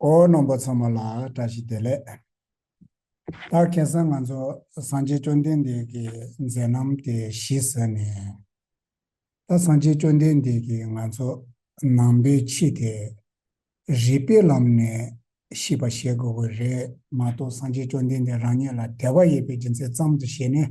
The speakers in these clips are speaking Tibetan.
ཨོ་ནང་པ་ཚང་མ་ལ་བཀྲ་ཤིས་བདེ་ལེགས། ད་གེ་སང་ང་ཚོ་སངས་རྒྱས་བཅོ་ལྡན་འདས་ཀྱི་མཛད་རྣམ་དེ་ཞིས་ཟེར་ནས། ད་སངས་རྒྱས་བཅོ་ལྡན་འདས་ཀྱི་ང་ཚོ་ནང་པའི་ཕྱི་དེ་རིག་པའི་ལམ་ནས་ཤིས་པ་ཞེས་དགོས་གི་རེད་མ་གཏོགས་སངས་རྒྱས་བཅོ་ལྡན་འདས་རང་ཉིད་ལ་དད་པ་ཡོད་པའི་རྒྱུ་མཚན་ཙམ་དུ་བྱས་ནས།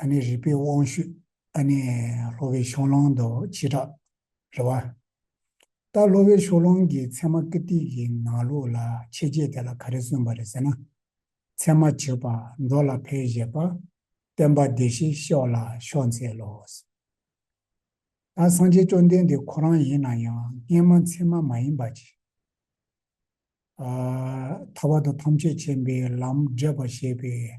ཨ་ནེ་རིག་པའི་དབང་ཕྱུག། ཨ་ནེ་ལྷོ་བའི་ཕྱོགས་གླང་དུ་སྤྱི་དྲག་རེ་བ། རྟ་ལྷོ་བའི་ཕྱོགས་གླང་གི་མཚན་མ་ཀི་ཏི་གི་ནང་ལུགས་ལ་ཕྱེ་རྗེས་དེ་ལ་ག་རེ་གསུངས་པ་རེད་ཟེར་ན། མཚན་མ་བྱེད་པ་འགྲོ་ལ་ཕའི་བཞེད་པ། བསྟན་པ་བདེ་གཤེགས་ཤོག་ལ་ཤོག་མཛད་ལོས། ད་སངས་རྒྱས་བཅོམ་ལྡན་འདས་ཁོ་རང་ཡིན་ན་ཡང་སྔས་མ་མཚན་མ་མ་ཡིན་པ་ཅི། ཐར་བ་དང་ཐམས་ཅད་མཁྱེན་པའི་ལམ་འབྲས་པ་བཞེད་པའི།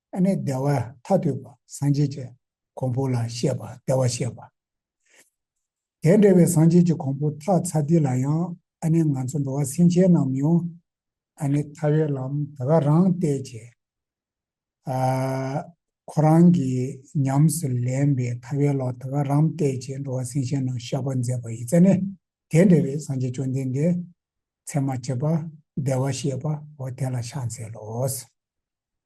ཨ་ནི་བདེ་བ་ཐ་དུས་པ་སངས་རྒྱས་ཀྱི་གོང་བུ་ལ་བཤད་པ་བདེ་བར་བཤད་པ། དེ་འདྲ་བའི་སངས་རྒྱས་ཀྱི་གོང་བུ་ཐག་ཚ་དུས་ལ་ཡང་ཨ་ནི་ང་ཚོ་འགྲོ་བ་སེམས་ཅན་རྣམས་མི་འོང། ཨ་ནི་ཐར་བའི་ལམ་དེ་ག་རང་བལྟས་ཀྱི། ཨ། ཁོ་རང་གིས་ཉམས་སུ་ལེན་པའི་ཐར་བའི་ལོག་དེ་ག་རང་བལྟས་ཀྱི་འགྲོ་བ་སེམས་ཅན་རྣམས་བཤགས་པར་མཛད་པ་ཡི་རྩལ་ནི་དེ་འདྲ་བའི་སངས་རྒྱས་བཅོམ་ལྡན་འདས་མཚན་མ་བྱེད་པ་བདེ་བར་བཤད་པའོ་དེ་ལ་ཕྱག་འཚལ་ལོ།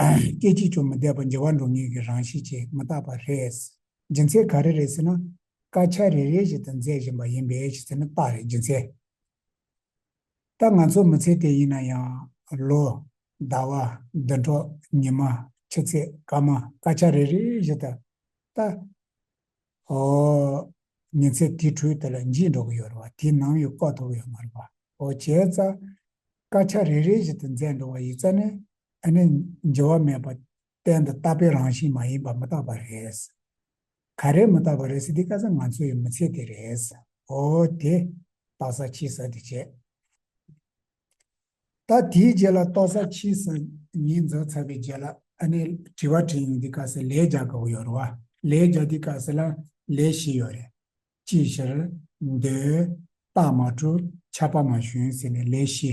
སྐད་ཅིག་ཀྱང་མི་བདེ་བ་འཇལ་བ་འགྲོ་ངེས་ཀྱི་རང་བཞིན་གྱིས་མི་རྟག་པ་རེད། སྦྱིན་སྲེག་ག་རེ་རེད་ཟེར་ན། དཀར་ཆ་རེ་རེ་བཞིན་དུ་མཛད་བཞིན་པ་ཡིན་པས་ཞེས་ཟེར་ན་རྟགས་རེད་སྦྱིན་སྲེག་ད་ང་ཚོ་མི་ཚེ་དེ་ཡིན་ན་ཡང། ལོ། ཟླ་བ། ཟླུ་གྲོགས། ཉི་མ། ཕྱི་ཚེས། སྐར་མ། དཀར་ཆ་རེ་རེ་བཞིན་དུ། ད། ཧོ། ཉིན་ཚེ་དེའི་འཕྲུལ་དེ་ལ་འཇིགས་འགྲོ་གི་ཡོད་རེད་བ་དེའི་ནམ་ཡོད་ལྐོག་ཐུབ་ཡོད་མ་རེད་བ་ཧོ་བྱས་ཙང། དཀར་ཆ་རེ་རེ་བཞིན་དུ་མཛད་འགྲོ་བ་ཡིན་ཙང་ནས་དེ་ནི་འགྱུར་བ་མེད་པ་གཏན་དུ་རྟག་པའི་རང་བཞིན་མ་ཡིན་པ་མི་རྟག་པ་རེད། ག་རེ་མི་རྟག་པ་རེད་ཟེར་དེ་བཀའ་ས་ང་ཚོ་ཡི་མི་ཚེ་དེ་རེད། ཨོ་དེ། རྟག་ས་ཕྱི་ས་དེ་བྱས། ད་དེའི་རྗེས་ལ་རྟོག་ས་ཕྱི་ས་གཉིས་འཛོགས་ཚར་བའི་རྗེས་ལ་ཨ་ནེ་དྲི་བ་དྲིས་ཡོང་དེ་བཀའ་ས་ལས་རྒྱག་དགོས་ཡོད་རེད་བ། ལས་རྒྱག་དེ་བཀའ་ས་ལ་ལས་བཞི་ཡོད་རེད། ཅིའི་ཕྱིར། མདོའི། རྟགས་མ་གྲུབ་ཆགས་པ་མ་ཞུན་ཟེར་ནས་ལས་བཞི།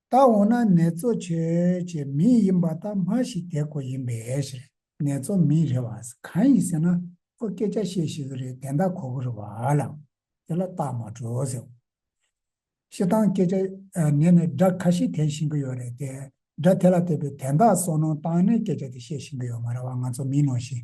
ད་འོ་ན་ནེ་ཙོ་ཆོས་ཀྱི་མི་ཡིན་པ་དག་མ་ཞིག་དེ་ཀོ་ཡིན་པས་ཞེས་ནེ་ཙོ་མི་རེད་བ་ཟེར་གང་ཡིན་ཟེར་ན་ཁོ་སྐད་ཆ་བཤད་ཤེས་གི་རེད་དན་ད་ཁོ་གོ་རེད་བ་ལ་དེ་ལ་རྟགས་མ་བྲོ་ཟེར་བ་ཤེས་དང་སྐད་ཆ་ནས་ནས་སྒྲ་ཁ་ཤིག་དན་བཞིན་གི་ཡོད་རེད་དེ་སྒྲ་དེ་ལ་བལྟས་པས་དན་ད་སོ་ནོ་དང་ནས་སྐད་ཆ་དེ་བཤད་བཞིན་གི་ཡོད་མ་རེད་བ་ང་ཚོ་མིན་ནོ་ཞེས་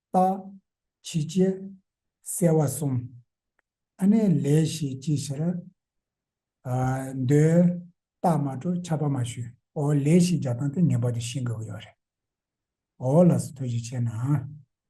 རྟགས། ཕྱི་བྱེད། གསལ་བ་གསུམ། ཨ་ནས་ལས་ཞེས་ཅི་ཕྱིར། འདོད། རྟགས་མ་སྤྲོ་ཁྱབ་པ་མ་ཞུ། འོ་ལས་ཞེས་བརྒྱ་སྟོང་སྟེ་ངེས་པར་དུ་ཤེས་དགོས་ཀྱི་ཡོད་རེད། འོ་ལ་སོགས་ཐོས་རྗེས་བྱས་ན།